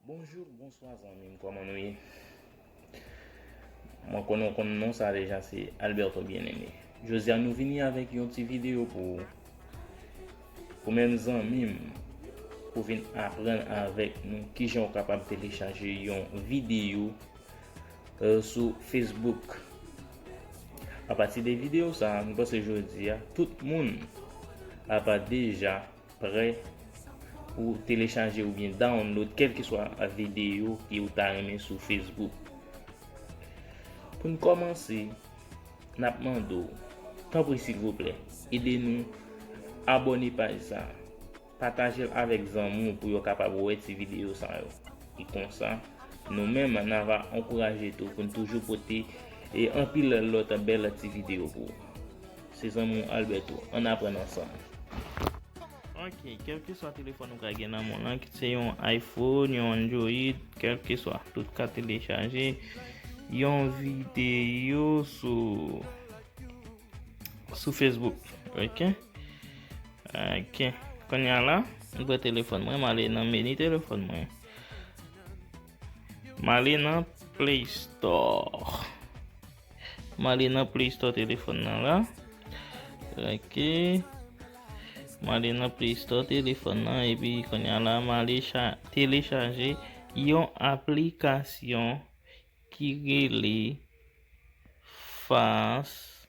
Bonjou bonswa zanmim kòman nou ye mwen konnen ou konn non sa deja se Alberto bien aimé jodi a nou vini avèk yon ti video pou ou pou menm zanmim pou vin aprann avèk nou kijan ou kapab telechaje yon video euh, sou Facebook a pati de video sa nou panse jodi a tout moun apa deja Prè pou telechaje oubyen download kèlkeswa videyo ki ou ta renmen sou Facebook. Pou n kòmanse, n ap mande w, tanpri silvouplè, ede nou abòne paj sa a. Pataje l avèk zanmi w pou yo kapab wè ti videyo sa yo. E konsa, nou menm n a va ankouraje tou pou n toujou pote anpil lòt bèl ti videyo pou ou. Se zanmi w Alberto. Ann aprann ansanm. Ok, kèlkeswa telefòn ou ka gen nan men w lan, kit se yon iPhone, yon Android, kèlkeswa, tout ka telechaje yon videyo sou Facebook. Ok. Ok. Kounye a la, m pran telefòn mwen, m ale nan meni telefòn mwen. M ale nan Play Store. M ale nan play store telefon nan la. Ok. M ale nan play store telefon nan. E pi konya la m ale telechaje yon aplikasyon ki rele fast.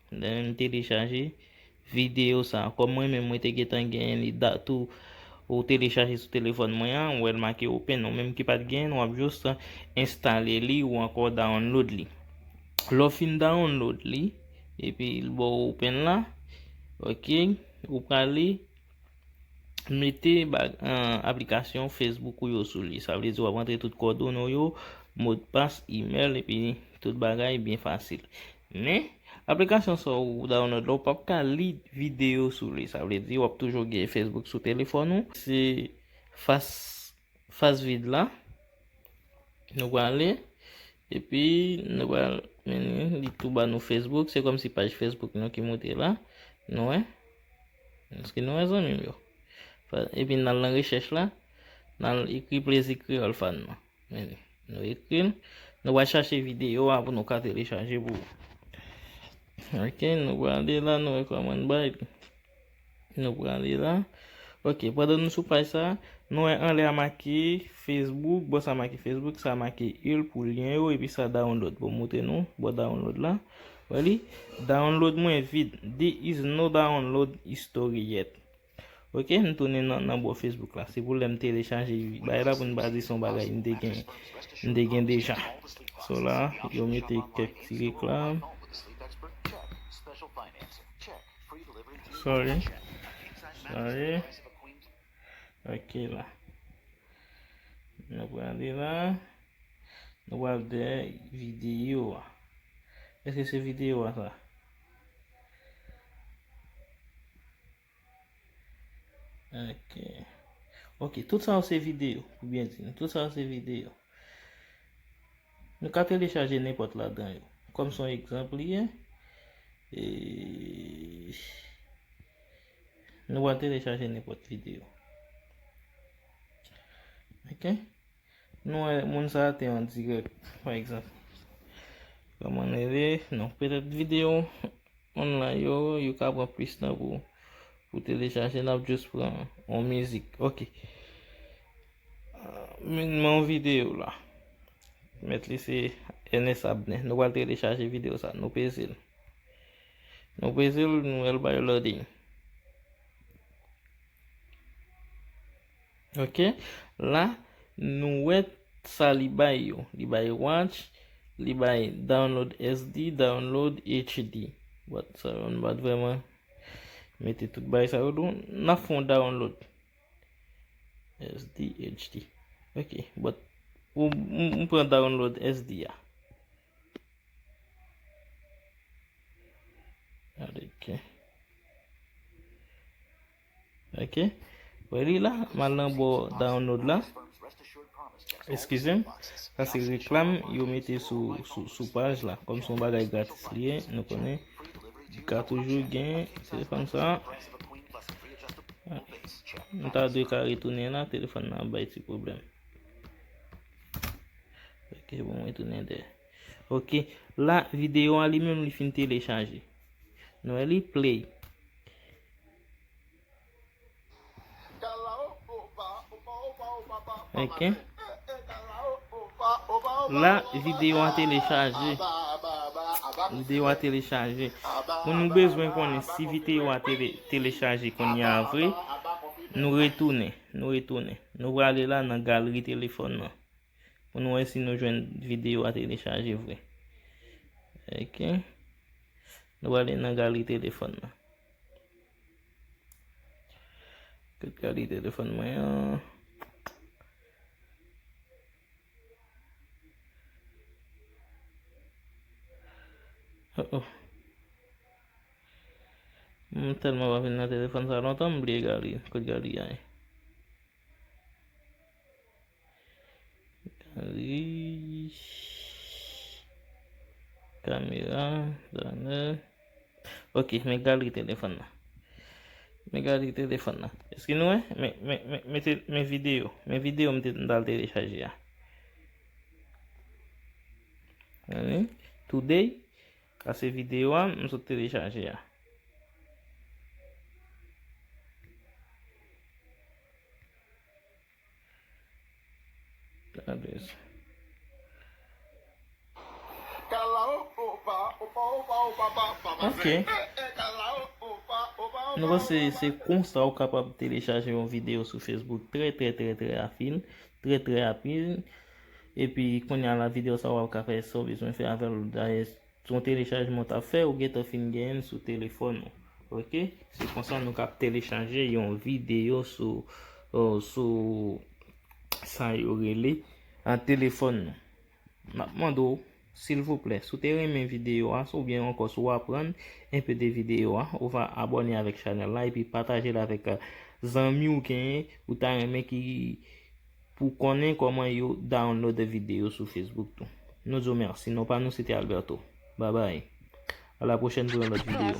Lè m telechaje video sa. Kòm mwen menm mwen te gentan genyen li da tou ou telechaje sou telefòn mwen an ou wè l make open ou menm ki pat genyen l wap just enstale li ou ankò download li lè w fin download li epi l ba w open la ok ou prale mete aplikasyon Facebook ou yo sou li. Sa vle di wap antre tout kòdone ou yo, modpas, email epi tout bagay byen fasil. Men, aplikasyon sa ou download la ou pap ka li video sou li. Sa vle di wap toujou gen Facebook sou telefòn ou. Se fas fas vid la. Nou prale epi nou pral mennen li tou ba nou Facebook. Se kòm si paj Facebook nou ki moute la. Nou wè. Eske nou wè zanmi m yo? Epi n al nan rechèch la, n al ekri plezi kreyòl fàn nan. Meni, nou ekri l. Nou pral chache videyo a pou nou ka telechaje pou ou. Ok, nou prale la, nou wè kòman n bay li. Nou prale la. Ok, pandan nou sou paj sa, nou wè anlè a make Facebook. Bò sa make Facebook, sa make ul pou lyen yo epi sa download. Bon m montre nou bò download la. Wè li? Download mwen vid. Di is no download history yet. Ok, m tounen nan bò Facebook la. Se pou lè m telechaje bagay la pou n pa di se yon bagay m te gen, m te gen deja. So la, yo mete kèk ti reklam. Sorry. Sorry. Ok la. Nou prale la. Nou wap de video a. Eske se video a sa? Ok. Ok, tout sa ou se video. Ou bien di. Tout sa ou se video. Nou ka telechaje nepot la dan yo. Kom son ekzamp li ye. Eee... Nou pral telechaje nenpòt videyo. Ok. Nou wè moun sa te an dirèk. Pa egzanp. Kòman nou rele? Non. Petèt videyo online yo, yo ka pran plis tan pou pou telechaje. Nap jous pran yon mizik. Ok. Men yon videyo la. Met li se Ernest Abner. Nou pral telechaje videyo sa. Nou peze l. Nou peze l nou el bay loading. Ok la nou wè sa li bay yo. Li bay watch, li bay download SD, download HD. But sa yo nou bat vreman mete tout bay sa yo don. Nan fon download SD, HD. Ok but m pran download SD a. Ok Wè li la M al nan bò download la Eskize m Sa se reklam yo mete sou paj la Kòm se yon bagay gratis li ye Nou konnen Li ka toujou gen Telefòn sa Nou ta dwe ka retounen la Telefòn nan ap bay ti pwoblèm Ok bon mwen tounen dè. Ok la videyo an li menm li fin telechaje. Nou wè li play. Ok. La videyo an telechaje. Videyo an telechaje. Moun nou bezwen konnen si videyo an telechaje koun ya vre. Nou retounen. Nou retounen. Nou prale la nan galri telefòn nan. Pou nou wè si nou jwenn videyo a telechaje vre. Ok. Nou prale nan galri telefòn nan. Kote galri telefòn mwen an. Oh oh. M telman pa vin nan telefòn sa lontan m bliye Galy kot Galy anh. Galy kamera danè ok men Galy telefòn nan men Galy telefòn nan eske nou wè men video men video m ta al telechaje a today Sa se video a m sot telechaje a. Ok. Nou wè se se konsa ou kapab telechaje yon video sou Facebook trè trè trè trè afin, trè trè apil. Epi kounya la video sa wap ka fè sa w bezwen fè avèl dayè se yon telechajman w tap fè ou gentan fin genyen l sou telefòn ou ok se konsa nou kap telechaje yon video sou sou sa yo rele an telefòn nou map mande w Silvouplè, si w te renmen videyo a, ou byen ankò si w aprann enpe de videyo a, ou va abòne avèk chanèl la epi pataje l avèk zanmi w genyen ou ta renmen ki pou konnen kòman yo download videyo sou Facebook tou. Nou di w mèsi. Non pa nou se te Alberto. Babay. A la pwochèn pou yon lòt videyo.